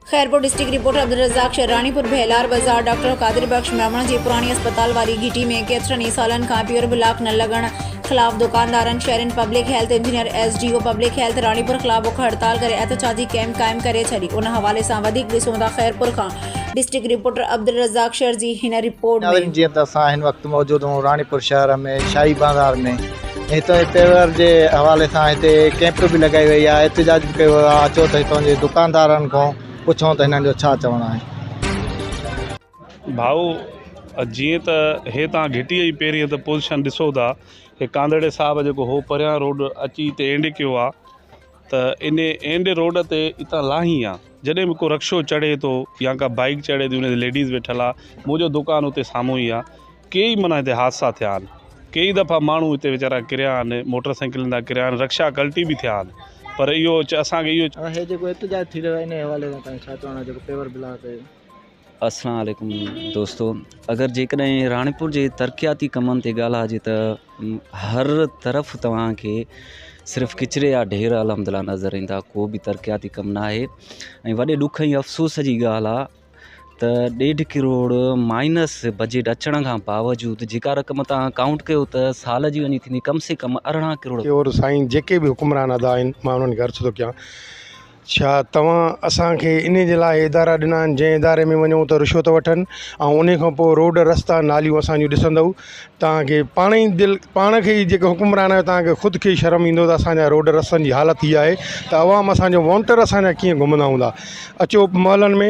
Khairpur, district reporter, Abdul Razzaq Sher, Ranipur Bhelar بازار، doctor Qadir Bux Memon جي پراڻي اسپتال واري گهٽي ۾ ڪيترن ئي سالن کان پيور بلاڪ نه لڳڻ خلاف دڪاندارن، شهرين، public health engineer, S D O public health Ranipur خلاف بک هڙتال ڪري احتجاجي ڪئمپ قائم ڪري ڇڏي، ان حوالي سان وڌيڪ ڏسون ٿا خيرپور کان ڊسٽرڪٽ رپورٽر عبدالرزاق شير جي هن رپورٽ ۾. ناظرين جيئن ته اسان هن وقت موجود آهون راڻيپور شهر ۾ شاهي بازار ۾. هتان جي تهوار جي حوالي سان هتي ڪئمپ به لڳائي وئي آهي احتجاج به ڪيو ويو آهي اچو ته هتان جي دڪاندارن کان پڇون ته هنن جو ڇا چوڻ آهي ڀائو جيئن ته هي تان گهٽي جي پهرين ته پوزيشن ڏسو ٿا هي ڪانڌڙي صاحب جيڪو هو پريان روڊ اچي هتي اينڊ ڪيو آهي ته ان اين ڊي روڊ تي اتان لاهين ها جڏهن به ڪو رڪشو چڙهي ٿو يا ڪا بائيڪ چڙهي ٿي ان تي ليڊيز ويٺل آ منهنجو دڪان اتي سامهون ئي آ ڪي ئي معنيٰ هتي حادثا ٿيا آهن ڪي ئي دفعا ماڻهو هتي ويچارا ڪريا آهن موٽر سائيڪلن تان ڪريا آهن رڪشا ڪلٽي به ٿيا آهن پر اهو اسان کي اهو هي جيڪو احتجاج ٿي رهيو آهي ان حوالي سان تنهنجو ڇا چوڻ آهي جيڪو پيور بلاڪ السلام عليڪم دوستو اگر جيڪڏهن راڻيپور جي ترقياتي ڪمن تي ڳالهه آجي ته هر طرف توهانکي صرف ڪچري يا ڍير الحمد لله نظر ايندا ڪو به ترقياتي ڪم نه آهي ۽ وڏي ڏک ۽ افسوس جي ڳالهه آهي ته ڏيڍ ڪروڙ مائنس بجيٽ اچڻ کان باوجود جيڪا رقم تان ڪائونٽ ڪيو ته سال جي وڃي ٿيندي ڪم سي ڪم ارڙهن ڪروڙ ڪيو سائين جيڪي به حڪمران ادا آهن مان انهن کي عرض ٿو ڪيان ڇا توهان اسان کي ان جي لاء ادارا ڏنا آهن جنهن اداري ۾ وڃون ته رشوت وٺن ۽ ان کان پوء روڊ رستا ناليون اسان جون ڏسندو توهان کي پاڻ ئي دل پاڻ کي ئي جيڪو حڪمران آهيو توهان کي خود کي شرم ايندو ته اسان جا روڊ رستن جي حالت هي آهي ته عوام اسان جو وونٽر اسان جا ڪيئن گهمندا هوندا اچو محلن ۾